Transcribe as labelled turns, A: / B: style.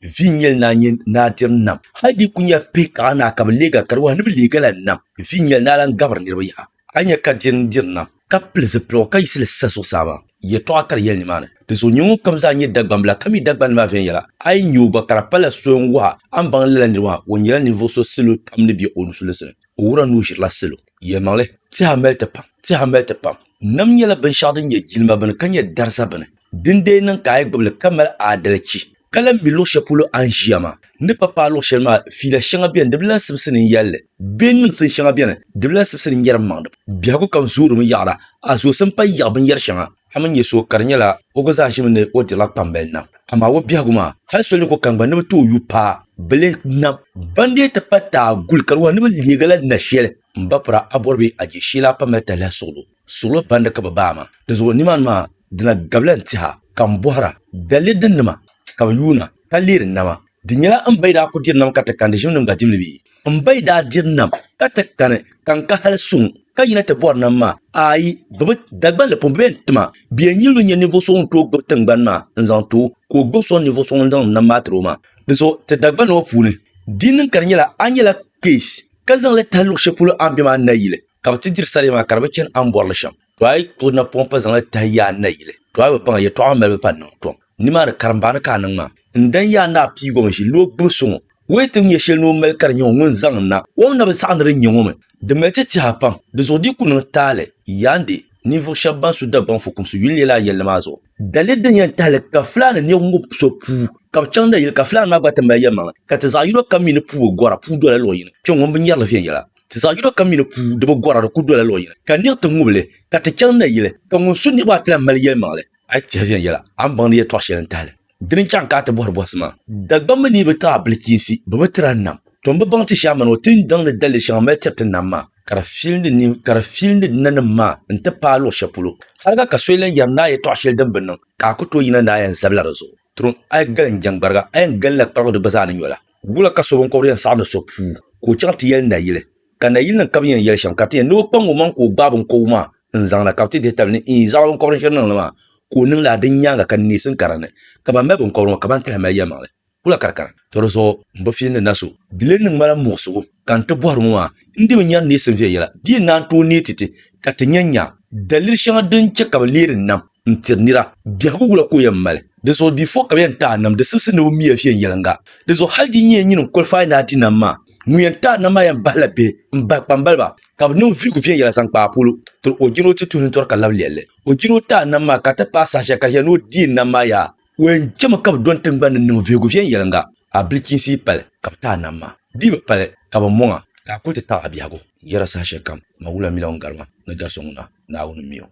A: Viɛnyɛl naa nyɛ naa tiri nam. Hal di ku nyɛla pihi ka a naa ka bi leeg a, ka di wahi ni bi leeg a la nam. Viɛnyɛl naa lan gabiri niriba yaha. A ni nya ka di ni diri nam, ka pili zipiligu ka yiɣisi li sa zuɣusaa maa, yɛtɔɣa ka di yɛli nimaani. Dinzuɣu nyɛ ŋunkam zaa nyɛ Dagbambila, ka mi Dagbani maa viɛnyɛla, a yi nya o gba, ka di palila soli n-wahi a, a ni baŋ lala niriba maa, o nyɛla ninvuɣ so salo pam ni be o nusulinsi ni. O wuhiri a ni o ʒirila salo. Yɛlimaŋli, Tɛha mali ti pam. Tɛha mali ti pam. Nam nyɛla binshɛɣu din nyɛ jilima bini, ka nyɛ dariza bini. Din dee niŋ ka a yi gbubi li ka mali aadalichi, ka lahi mi luɣ shɛli polo a ni ʒiya maa, n ni pa paai luɣ shɛli maa, fiila shɛŋa beni di bi lahi sibisi ni n yɛli li, bee niŋsim shɛŋa beni di bi lahi sibisi ni n yɛri m maŋ di. Biɛhigu kam zoorimi yaɣira, a zoosi m-pali yaɣi binyɛr shɛŋa. A mi nya so ka di nyɛla o gba zaa ʒimi ni o dirila kpambali nam, amaa o biɛhigu maa, hal so ni ku kani gba ni bi ti o yu paa bi lih nam. Ban dee ti pa taai guli ka di wahi ni bɛ leegi la na shɛli, m ba pira a bɔri bɛ a je shee la a pa mali tahi lahi suɣili o. Suɣulo pandi ka bɛ baai ma. Dinzuɣu nimaani maa di na gabila n-tiha ka m bɔhira, Daliri din nima ka bɛ yuuna ka leeri nama? Di nyɛla m ba yi daa ku diri nam ka ti kani di ʒimnim gba dimli bee? M ba yi daa diri nam ka ti kani ka n ka hali suŋ ka yina ti bɔri nam maa? Aai! Bɛ bi, Dagballi pun bi yɛn ti ma. Bɛ yɛn nyilimi nya ninvuɣ so ŋun tooi gbibi tiŋgbani maa n-zaŋ ti o, ka o gbibi sɔŋ ninvuɣ so ŋun zaŋdi nam maa tiri o maa. Dinzuɣu ti Dagbani ŋɔ puuni, di yi niŋ ka di nyɛla a nyɛla kpeesi ka zaŋ li tahi luɣ shɛli polo a ni be maa nayili, ka bi ti diri saɣim maa ka di bi chani a ni bɔrili shɛm to a yi ku na pɔŋ pa zaŋla tahi yi a ni na yili to a bi paŋa yɛtɔɣa ŋɔ malibu pa niŋ tɔm nimaani karimbaani ka a niŋ maa n dan yi a ni a piigo mi ʒi ni o gbubi so ŋɔ wee ti nyɛ shɛli ni o mali ka di nyɛ ŋɔ ŋun zaŋ n na kom na bi saɣi ni di nyɛ ŋɔ mi di mali ti tiɛha pam di zuɣu di ku niŋ taali yaandi ninvuɣu shɛba ban su Dagbaŋ fukumsi yuli lɛla a yɛlli maa zuɣu dali din yɛn tahili ka Fulani niɣi ŋɔ so puu ka bi chaŋ na yili ka Fulani maa gba ti mali yɛlimaŋli ka ti zaɣa yino kam mi ni puu bi gɔra puu dola luɣu yini kpɛŋ ŋɔ n bi nyɛrili viɛnyɛla. Ti zaɣ yino kam mi ni puu di bi gɔra, di ku dola luɣ yini, ka niɣ ti ŋubili, ka ti chaŋ nayili, ka ŋun su niriba a ti lan mali yɛlimaŋli. A yi tɛhi viɛnyɛla, a ni baŋ ni yɛtɔɣ shɛli n-tahili. Dini n-chaŋ ka a ti bɔhiri bɔhisi maa. Dagbamba mi bi tiri a bilichiinsi, bɛ bi tiri a nam. Tɔ! M bi baŋ ti shɛhi a mani o tindaŋ ni daliri shɛŋa mali tiri ti nam maa, ka di fil ni ni ka di fil ni di nanim maa nti paai luɣ shɛli polo. Haliga ka so yɛn lan yɛri ni a yɛtɔɣ shɛli din bi niŋ, ka a ku tooi yina ni a yɛn zabila di zuɣu. Turim, a yi galim jɛŋgbariga, a yɛn galinla kparigu di gba zaa ni nyɔ la. Wula ka so binkɔbiri yɛn saɣim ni so puu ka o chaŋ ti yɛli nayili? Ka nayilinima kabi yɛn yɛli shɛm ka ti yɛn ni o kpaŋ o maŋ ka o gbaai binkɔbigu maa n-zaŋ na ka bɛ ti dihi tabili ni iin zaɣ binkɔbiri shɛli niŋ li maa ka o niŋ li a din nyaaŋa ka neesim ka dinni ka ban mali binkɔbiri ŋɔ ka ban tahi mali yɛlimaŋli? Wula ka di kana? Tɔ di zuɣu m-bi fiin ni na so. Di lee niŋ ma la muɣisigu. Ka n ti bɔhiri ŋɔ maa, n di bi nyari neei Sylvia yɛla, di yi naan tooi neei ti ti, ka ti nya nya daliri shɛŋa din chɛ ka bɛ leeri nam n-tiri nira. Biɛhigu wula ka o yɛn mali? Di zuɣu di fo ka bɛ yɛn taai nam di sibisi ni o mi ya viɛnyɛliŋga. Di zuɣu hal di nyɛ nyini n-kɔlifaai ni a di nam maa. Ŋun yɛn taai nam maa yɛn bahila bihi m-bahi kpambaliba ka bɛ niŋ vihigu viɛnyɛla zaŋ kpaai polo tiri o jin o ti tuhi nintɔri ka lab lɛli o jin o taai nam maa ka ti paai saha shɛli ka di yɛn ni o deei nam maa yaa. O yɛn chɛmi ka bi dɔni tiŋgbani ni niŋ vihigu viɛnyɛliŋga a bilichiinsi yi pali ka bi ti a nam maa dii bi pali ka bi mɔŋ a ka a kuli ti taɣi a biɛhigu n yɛra saha shɛlikam Mawula mila ŋun gari ma ni gari so ŋuna Naawuni mi o.